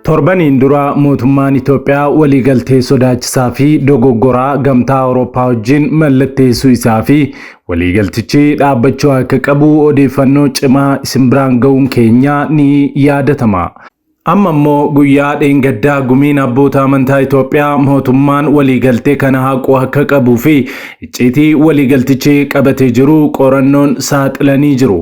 Torbaniin dura mootummaan Itoophiyaa waliigaltee sodaachisaa fi dogoggoraa gamtaa Awurooppaa wajjin mallatteessuu isaa fi waliigaltichi dhaabbachuu akka qabu odeeffannoo cimaa isin biraan ga'uun keenya ni yaadatama. Amma immoo guyyaa dheengaddaa gumiin abboota amantaa Itoophiyaa mootummaan waliigaltee kana haquu akka qabuu fi icciitii waliigaltichi qabate jiru qorannoon saaxilanii jiru.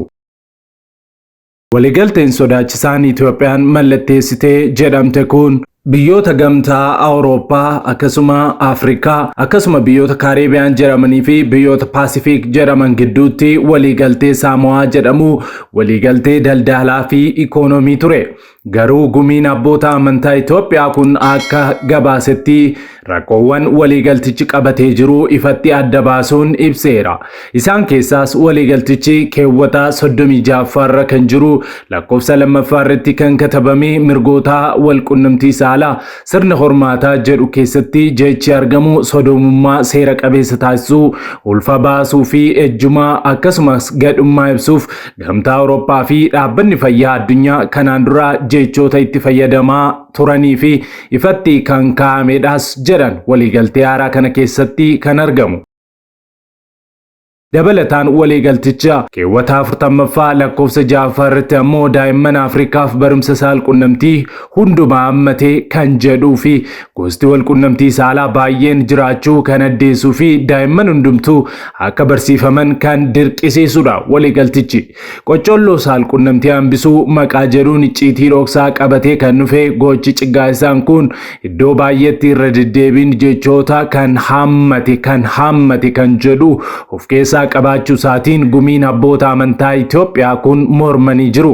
Waliigalteen sodaachisaan Itoophiyaan mallatteessite jedhamte kun biyyoota gamtaa Awurooppaa akkasuma Afrikaa akkasuma biyyoota Kaareebiyaan jedhamanii fi biyyoota Paasifiik jedhaman gidduutti waliigaltee Saamowaa jedhamu waliigaltee daldaalaa fi ikoonoomii ture. Garuu gumiin abboota amantaa Itoophiyaa kun akka gabaasetti rakkoowwan waliigaltichi qabatee jiru ifatti adda baasuun ibseera. Isaan keessaas waliigaltichi keewwata 36ffaarra kan jiru lakkoofsa lammaffaarratti kan katabame mirgoota walqunnamtii saalaa Sirna hormaataa jedhu keessatti jechi argamu sodoomummaa seera qabeessa taasisuu, ulfa baasuu fi ejjumaa akkasumas gadhummaa ibsuuf Gamtaa Awurooppaa fi Dhaabbanni Fayyaa Addunyaa kanaan dura jechoota itti fayyadamaa turanii fi ifatti kan kaa'amedhas jedhan waliigaltee haaraa kana keessatti kan argamu. Dabalataan waliigalticha keewwata 40ffaa lakkoofsa 6ffaa irratti ammoo daa'imman Afrikaaf barumsa saalqunnamtii hundumaa hammatee kan jedhuu fi gosti walqunnamtii saalaa baay'een jiraachuu kan addeessuu fi daa'imman hundumtuu akka barsiifaman kan dirqisiisudha waliigaltichi. Qoccolloo saalqunnamtii hambisuu maqaa jedhuun icciitii dhoksaa qabatee kan dhufe gochi ciggaaisaan kun iddoo baay'eetti irra deddeebiin jechoota kan haammate kan haammate kan jedhu of keessaa qabaachuu isaatiin gumiin abboota amantaa Itoophiyaa kun mormanii jiru.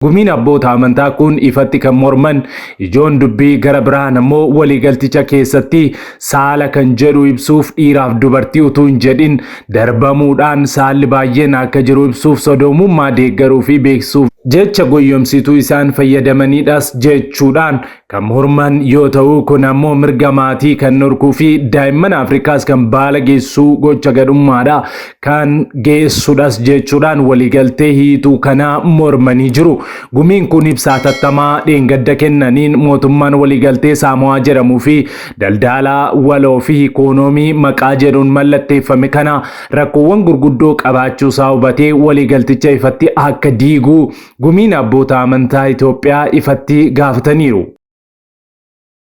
Gumiin abboota amantaa kun ifatti kan morman ijoon dubbii gara biraan ammoo waliigalticha keessatti saala kan jedhu ibsuuf dhiiraaf dubartii utuu hin jedhin darbamuudhaan saalli baay'een akka jiru ibsuuf sodoomummaa deeggaruu fi beeksisuuf jecha goyyomsituu isaan fayyadamanidhas jechuudhaan kan morman yoo ta'u kun ammoo mirga maatii kan dhorkuu fi daa'imman Afrikaas kan baala geessuu gocha gadhummaadha kan geessudhas jechuudhaan waliigaltee hiituu kanaa mormanii jiru. Gumiin kun ibsaa tattamaa dheengadda kennaniin mootummaan waliigaltee Saamo'aa jedhamuu fi daldaalaa waloo fi ikoonoomii maqaa jedhuun mallatteeffame kana rakkoowwan gurguddoo qabaachuu isaa hubatee waliigalticha ifatti akka diiguu Gumiin Abboota Amantaa Itoophiyaa ifatti gaafataniiru.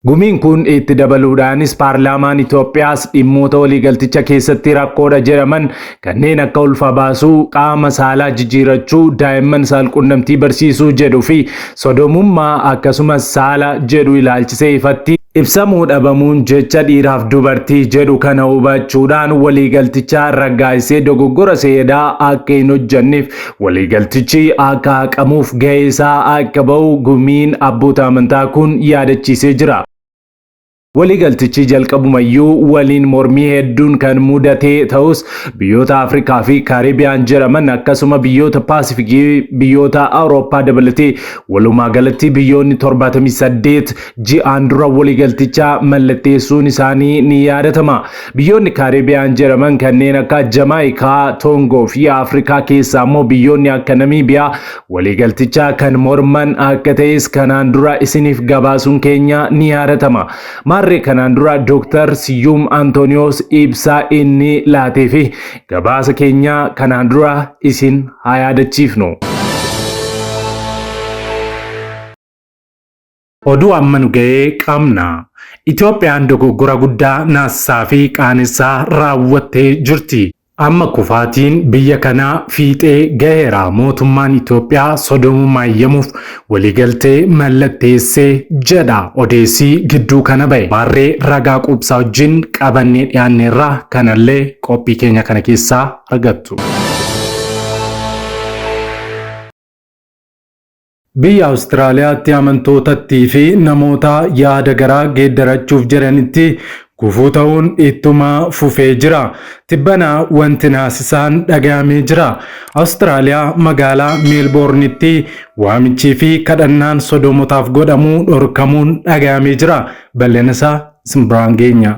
Gumiin kun itti dabaluudhaanis paarlaamaan Itoophiyaas dhimmoota waliigalticha keessatti rakkoodha jedhaman kanneen akka ulfa baasuu, qaama saalaa jijjiirachuu, daa'imman saalqunnamtii barsiisuu jedhu fi sodomummaa akkasumas saala jedhu ilaalchisee ifatti ibsamuu dhabamuun jecha dhiiraaf dubartii jedhu kana hubachuudhaan waliigalticha raggaasisee dogoggora seedaa akka hin hojjanneef Waliigaltichi akka haqamuuf gahee isaa akka ba'u gumiin abboota amantaa kun yaadachiisee jira. Waliigaltichi jalqabumayyuu waliin mormii hedduun kan mudate ta'us biyyoota Afrikaa fi Kaaribiyaan jedhaman akkasuma biyyoota Paasifikii biyyoota Awurooppaa dabalatee walumaa galatti biyyoonni 78 ji'aan dura waliigalticha mallatteessuun isaanii ni yaadatama. Biyyoonni Kaariibiyaan jedhaman kanneen akka Jamaayikaa, Toongoo fi Afrikaa keessaa immoo biyyoonni akka Namiibiyaa waliigaltichaa kan morman akka ta'es kanaan dura isiniif gabaasuun keenya ni yaadatama. Maarree kanaan dura Dooktar Siyyuum Antooniyoos ibsa inni laatee fi gabaasa keenya kanaan dura isin haa yaadachiifnu. Oduu amma nu ga'ee qabna. Itoophiyaan dogoggora guddaa naassaa fi qaanessaa raawwattee jirti. Amma kufaatiin biyya kanaa fiixee gaheera. Mootummaan Itoophiyaa sodoomummaa eeyyamuuf waliigaltee mallatteesse jedha odeessii gidduu kana ba'e. Maarree ragaa quubsaa wajjin qabannee dhiyaanneerra kanallee qophii keenya kana keessaa argattu. Biyya Awustiraaliyaatti amantootattii fi namoota yaada garaa geeddarachuuf jedhanitti gufuu ta'uun ittuma fufee jira. Tibbana wanti naasisaan dhagayamee jira. Awustiraaliyaa magaalaa Meelboornitti waamichii fi kadhannaan sodoomotaaf godhamu dhorkamuun dhagayamee jira. Bal'ina isaa isin biraan geenya.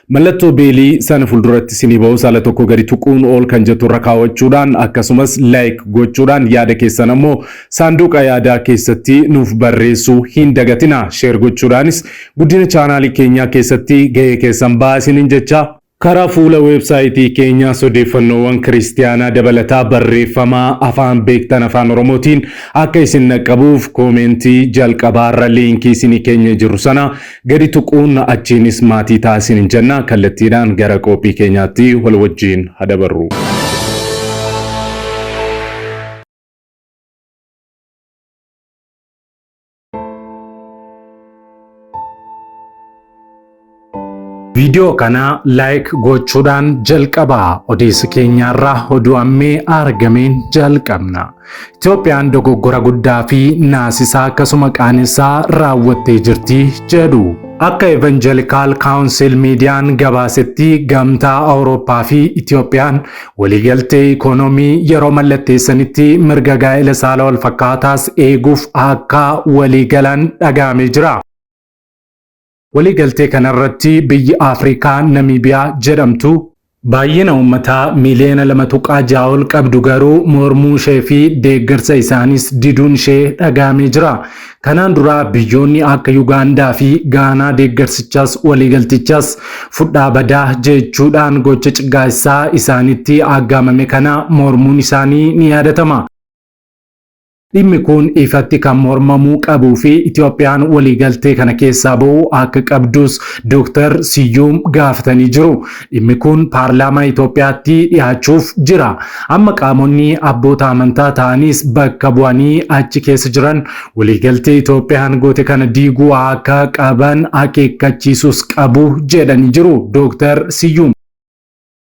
Mallattoo beelii sana fulduratti isinii ba'u sala tokko gadi tuquun all kan jettu irra kaawachuudhaan akkasumas like gochuudhaan yaada keessan ammoo saanduuqa yaadaa keessatti nuuf barreessuu hin dagatina. Share gochuudhaanis guddina chaanaalii keenyaa keessatti gahee keessan ba'aa isiniin jechaa. Karaa fuula weebsaayitii keenyaas odeeffannoowwan kiristiyaanaa dabalataa barreeffama afaan beektan afaan Oromootiin akka isin dhaqqabuuf koomeentii jalqabaarra liinkii isinii keenyee jirru sana Gadi tuquun achiinis maatii ta'a isiniin jenna. Kallattiidhaan gara qoophii keenyaatti wal wajjiin ha dabarru. Viidiyoo kana like gochuudhaan jalqabaa odeessa keenyaarraa oduu ammee argameen jalqabna. Itoophiyaan dogoggora guddaa fi naasisaa akkasuma qaanessaa raawwattee jirti jedhu. Akka Evangelical Council Miidiyaan gabaasetti gamtaa Awurooppaa fi Itoophiyaan waliigaltee ikoonoomii yeroo mallatteessanitti mirga gaa'ela saala wal fakkaataas eeguuf akka waliigalan dhagahamee jira. Waliigaltee kanarratti biyyi Afrikaa Namiibiyaa jedhamtu, baay'ina uummataa miiliyoona 2.6 ol qabdu garuu mormuushee fi deeggarsa isaaniis diduunshee dhaga'amee jira. Kanaan dura biyyoonni akka Yugaandaa fi Gaanaa deeggarsichas waliigaltichas fudhaa badaa jechuudhaan gocha ciggaaessaa isaanitti aggaamame kana mormuun isaanii ni yaadatama. Dhimmi kun ifatti kan mormamuu qabuu fi Itoophiyaan waliigaltee kana keessaa ba'uu akka qabdus Dooktar Siyyuum gaafatanii jiru. Dhimmi kun paarlaamaa Itoophiyaatti dhiyaachuuf jira. Amma qaamonni abboota amantaa ta'anis bakka bu'anii achi keessa jiran waliigaltee Itoophiyaan goote kana diiguu akka qaban akeekkachiisuus qabu jedhanii jiru Dooktar Siyyuum.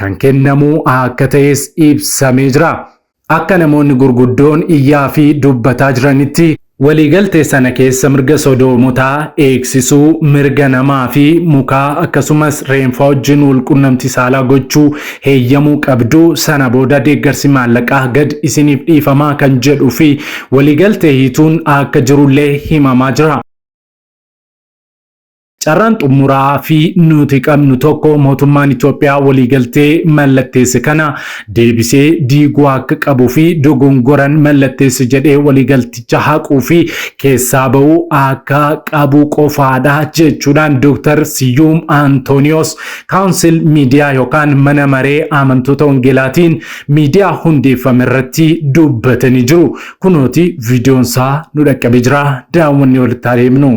kan kennamu akka ta'es ibsamee jira. Akka namoonni gurguddoon iyyaa fi dubbataa jiranitti, waliigaltee sana keessa mirga sodoomotaa eegsisuu, mirga namaa fi mukaa akkasumas reenfaa wajjin walqunnamtii saalaa gochuu heeyyamuu qabdu, sana booda deeggarsi maallaqaa gad isiniif dhiifama kan jedhuu fi waliigaltee hiituun akka jirullee himamaa jira. Carraan xumuraa fi nuti qabnu tokko mootummaan Itoophiyaa waliigaltee mallatteesse kana deebisee diiguu akka qabuu fi dogongoran mallatteesse jedhee waliigalticha haquu fi keessaa ba'uu akka qabu qofaadha jechuudhaan Dr. Siyyuum Antooniyoos kaawunsil miidiyaa yookaan mana maree amantoota wangeelaatiin miidiyaa hundeeffame irratti dubbatanii jiru. Kunooti viidiyoon isaa nu dhaqqabe jira. Daawwannee walitti adeemnu.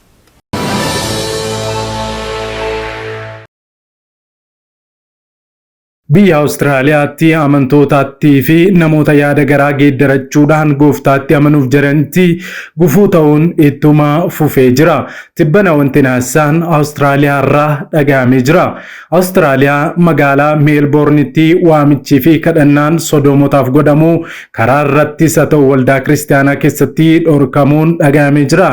Biyya Awustiraaliyaatti amantootaattii fi namoota yaada garaa geeddarachuudhaan gooftaatti amanuuf jedhanitti gufuu ta'uun ittuma fufee jira. Tibbana wanti naasaan Awustiraaliyaa irraa dhaga'amee jira. Awustiraaliyaa magaalaa Meelboornitti waamichii fi kadhannaan sodoomotaaf godhamu karaa irrattis haa ta'u waldaa kiristaanaa keessatti dhorkamuun dhaga'amee jira.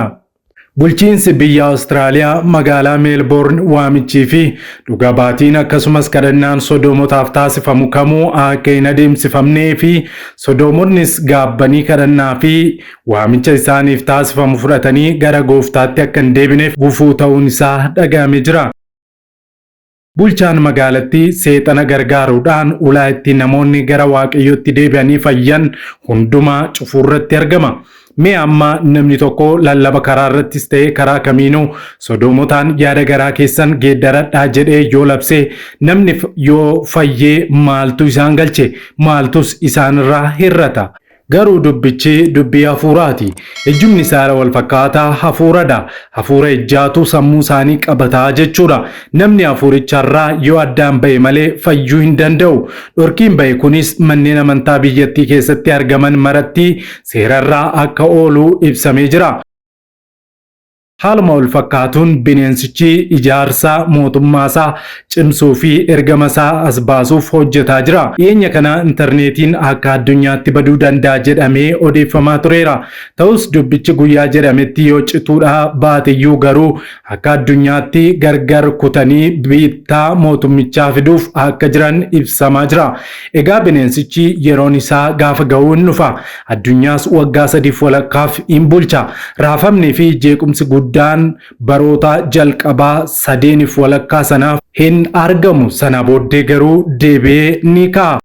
Bulchiinsi biyya Awustiraaliyaa magaalaa Meelboorn waamichii fi dhuga baatiin akkasumas kadhannaan sodoomotaaf taasifamu kamuu akka hin adeemsifamnee fi sodoomonnis gaabbanii kadhannaa fi waamicha isaaniif taasifamu fudhatanii gara gooftaatti akka hin deebineef gufuu ta'uun isaa dhaga'ame jira. Bulchaan magaalattii seexana gargaaruudhaan ulaa itti namoonni gara Waaqayyootti deebi'anii fayyan hundumaa cufuurratti argama. Mee amma namni tokko lallaba karaa irrattis ta'ee karaa kamiinuu sodoomotaan yaada garaa keessan geeddaradhaa jedhee yoo labse namni yoo fayyee maaltu isaan galche maaltus isaanirraa hir'ata. Garuu dubbichi dubbii hafuuraati. Ejjumni isaa irra wal fakkaata, hafuuradha. Hafuura ejjaatu sammuu isaanii qabata jechuudha. Namni hafuuricha irraa yoo addaan ba'e malee fayyuu hin danda'u. Dhorkiin ba'e kunis manneen amantaa biyyattii keessatti argaman maratti seera irra akka oolu ibsamee jira. Haaluma wal fakkaatuun bineensichi ijaarsa mootummaasaa cimsuu fi ergamasaa as baasuuf hojjetaa jira. Dhiyeenya kana intarneetiin akka addunyaatti baduu danda'a jedhamee odeeffamaa tureera. Ta'us dubbichi guyyaa jedhametti yoo cituudhaa baateyyuu garuu akka addunyaatti gargar kutanii biittaa mootummichaa fiduuf akka jiran ibsamaa jira. Egaa bineensichi yeroon isaa gaafa ga'uu hin dhufa. Addunyaas waggaa sadiif walakkaaf in bulcha. Raafamnii fi jeequmsi guddaan baroota jalqabaa sadeeniif walakkaa sanaaf hin argamu. Sanaa booddee garuu deebi'ee ni ka'a.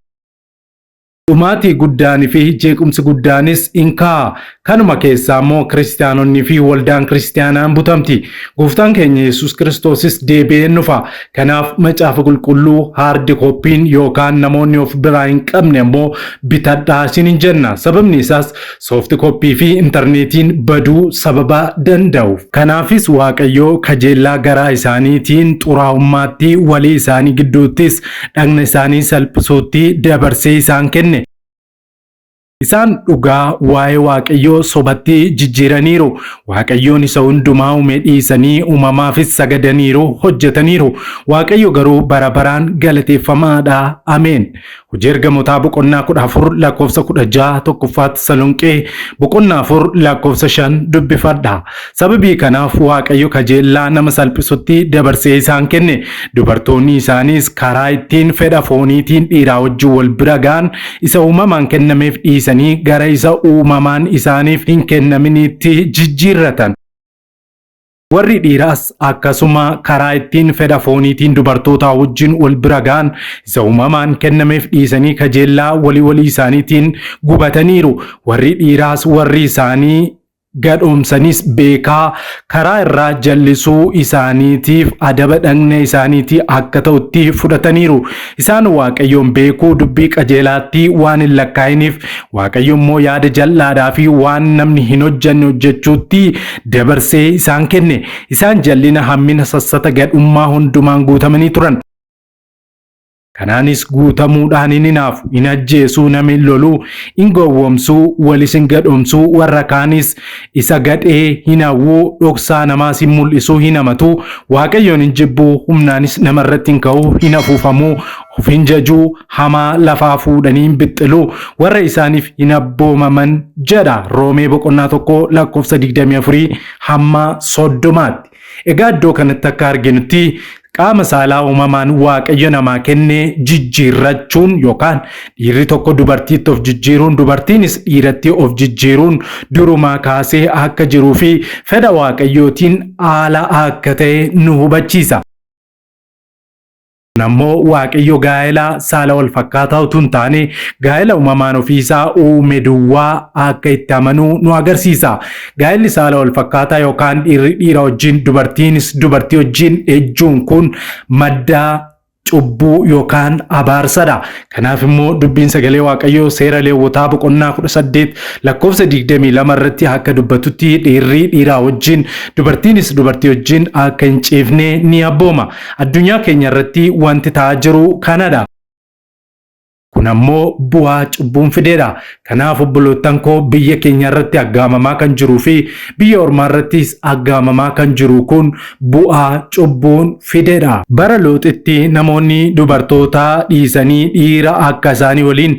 Dhumaatii guddaanii fi jeequmsi guddaanis in ka'a. Kanuma keessaa immoo kiristiyaanonnii fi waldaan kiristiyaanaa in butamti. Gooftaan keenya Yesus Kiristoosis deebi'ee in dhufa. Kanaaf macaafa qulqulluu haardi kooppiin yookaan namoonni of biraa hin qabne ammoo bitadhaa isin hin jenna. Sababni isaas soofti kooppii fi intarneetiin baduu sababa danda'uuf. Kanaafis Waaqayyoo kajeellaa garaa isaaniitiin xuraa'ummaatti walii isaanii gidduuttis dhagna isaanii salphisuutti dabarsee isaan kenne. Isaan dhugaa waa'ee Waaqayyoo sobatti jijjiiraniiru. Waaqayyoon isa hundumaa uume dhiisanii uumamaafis sagadaniiru, hojjetaniiru. Waaqayyo garuu bara baraan galateeffamaadha. Ameen. Hojii ergamotaa boqonnaa 14 lakkoofsa 16 tokkoffaa Tasalonqee boqonnaa 4 lakkoofsa 5 dubbifadha. Sababii kanaaf Waaqayyo kajeellaa nama salphisutti dabarsee isaan kenne. Dubartoonni isaaniis karaa ittiin fedha fooniitiin dhiiraa wajjin wal bira ga'an isa uumamaan kennameef dhiisanii gara isa uumamaan isaaniif hin kennaminiitti jijjiirratan. Warri dhiiraas akkasuma karaa ittiin fedha fooniitiin dubartootaa wajjin wal bira ga'an isa uumamaan kennameef dhiisanii kajeellaa walii walii isaaniitiin gubataniiru. Warri dhiiraas warri isaanii gadhoomsanis beekaa karaa irraa jallisuu isaaniitiif adaba dhagna isaaniitii akka ta'utti fudhataniiru. Isaan Waaqayyoon beekuu dubbii qajeelaatti waan hin lakkaa'iniif Waaqayyo immoo yaada jal'aadhaa fi waan namni hin hojjanne hojjechuutti dabarsee isaan kenne. Isaan jallina hammina sassata gadhummaa hundumaan guutamanii turan. Kanaanis guutamuudhaan hin hinaafu, hin ajjeesuu, nama hin loluu, hin gowwomsuu, walis hin gadhomsuu, warra kaanis isa gadhee hin hawwuu, dhoksaa namaas hin mul'isuu, hin hamatuu, Waaqayyoon hin jibbuu, humnaanis nama irratti hin ka'uu, hin afuufamuu, of hin jajuu, hamaa lafaa fuudhanii hin bixxiluu, warra isaaniif hin abboomaman jedha Roomee boqonnaa 1 lakkoofsa 24 hamma 30tti. Egaa iddoo kanatti akka arginutti qaama saalaa uumamaan waaqayyo namaa kenne jijjiirrachuun yookaan dhiirri tokko dubartiitti of jijjiiruun dubartiinis dhiiratti of jijjiiruun durumaa kaasee akka jiruu fi fedha waaqayyootiin haala akka ta'e nu hubachiisa. Kun ammoo Waaqayyo gaa'ela saala wal fakkaataa utuu hin taane gaa'ela uumamaan ofiisaa uume duwwaa akka itti amanuu nu agarsiisa. Gaa'elli saala wal fakkaataa yookaan dhiirri dhiira wajjin dubartiinis dubartii wajjin ejjuun kun madda cubbuu yookaan abaarsadha. Kanaaf immoo dubbiin sagalee Waaqayyoo seera Leewwotaa boqonnaa 18 lakkoofsa 22 irratti akka dubbatutti dhiirri dhiiraa wajjin dubartiinis dubartii wajjin akka hin ciifne ni abbooma. Addunyaa keenya irratti wanti ta'aa jiru kanadha. Kun ammoo bu'aa cubbuun fideedha. Kanaaf obboloottan koo biyya keenya irratti aggaamamaa kan jiruu fi biyya ormaa irrattis aggaamamaa kan jiru kun bu'aa cubbuun fideedha. Bara looxitti namoonni dubartoota dhiisanii dhiira akka isaanii waliin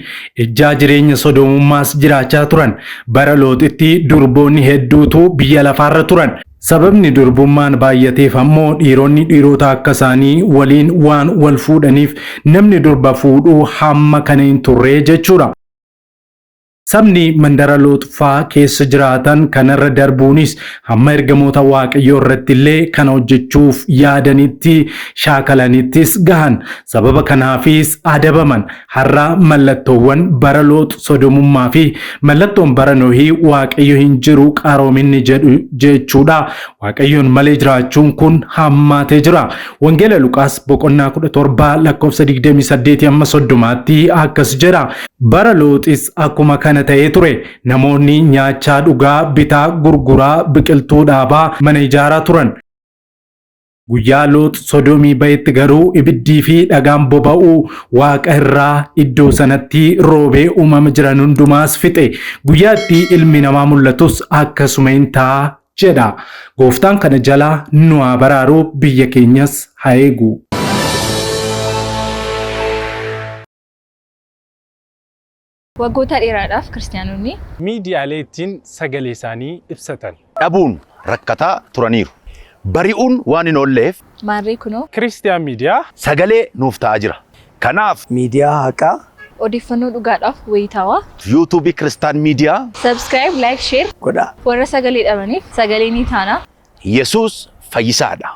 ejjaa jireenya sodoomummaas jiraachaa turan. Bara looxitti durboonni hedduutu biyya lafaarra turan. Sababni durbummaan baay'ateef ammoo dhiironni dhiirota akka isaanii waliin waan wal fuudhaniif namni durba fuudhu hamma kana hin turre jechuudha. Sabni mandara Looxfaa keessa jiraatan kanarra darbuunis hamma ergamoota Waaqayyoo irratti illee kana hojjechuuf yaadanitti shaakalanittis gahan. Sababa kanaafis adabaman. Har'a mallattoowwan bara Loox sodomummaa fi mallattoon bara Nohii Waaqayyo hin jiru qaroominni jedhu jechuudha. Waaqayyoon malee jiraachuun kun hammaatee jira. Wangeela Luqaas boqonnaa 17 lakkoofsa 28 amma 30tti akkas jedha. Bara Looxis akkuma kana ta'ee ture. Namoonni nyaachaa dhugaa, bitaa, gurguraa, biqiltuu dhaabaa, mana ijaaraa turan. Guyyaa Loox Sodoomii ba'etti garuu ibiddii fi dhagaan boba'u waaqa irraa iddoo sanatti roobee uumama jiran hundumaas fixe. Guyyaa itti ilmi namaa mul'atus akkasuma in ta'a jedha. Gooftaan kana jala nu haa baraaru biyya keenyas haa eegu. Waggoota dheeraadhaaf Kiristiyaanonni. miidiyaalee ittiin sagaleesaanii ibsatan. dhabuun rakkataa turaniiru. Bari'uun waan hin oolleef. Maarree kunoo. Kiristiyaan Miidiyaa. sagalee nuuf ta'aa jira. Kanaaf. miidiyaa haqaa. odeeffannoo dhugaadhaaf wayitaawaa. YouTube Kiristaan Miidiyaa. Subscribe, Like, Share. godhaa. Warra sagalee dhabaniif sagalee ni taana. Yesuus fayyisaadha.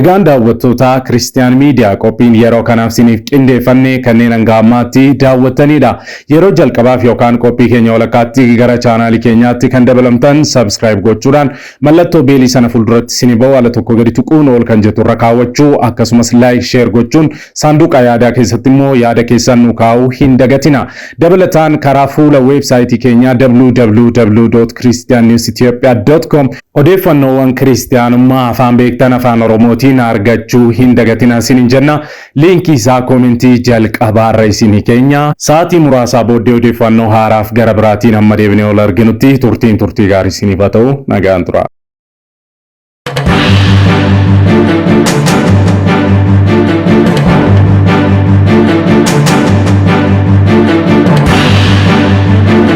Egaan daawwattoota Christian Media qophiin yeroo kanaaf siniif qindeeffanne kanneen hanga ammaatti daawwattaniidha. Yeroo jalqabaaf yookaan qophii keenya walakkaatti gara chaanaalii keenyaatti kan dabalamtan subscribe gochuudhaan mallattoo beelii sana fuulduratti sini ba'u ala tokko gadi tuquun ol kan jettu irra kaawwachuu akkasumas like share gochuun saanduqa yaadaa keessatti immoo yaada keessan nu kaa'uu hin dagatina. Dabalataan karaa fuula weebsaayitii keenyaa www.christiannewsethiopia.com Odeeffannoowwan Kiristiyaanummaa afaan beektan Afaan Oromootiin argachuu hin dagatinaa isiniin jenna. Liinkii isaa koomentii jalqabaarra isinii keenya. Sa'aatii muraasaa booddee odeeffannoo haaraaf gara biraatiin hamma deebinee wal arginutti turtiin turtii gaarii isiniif haa ta'u. Nagaan turaa.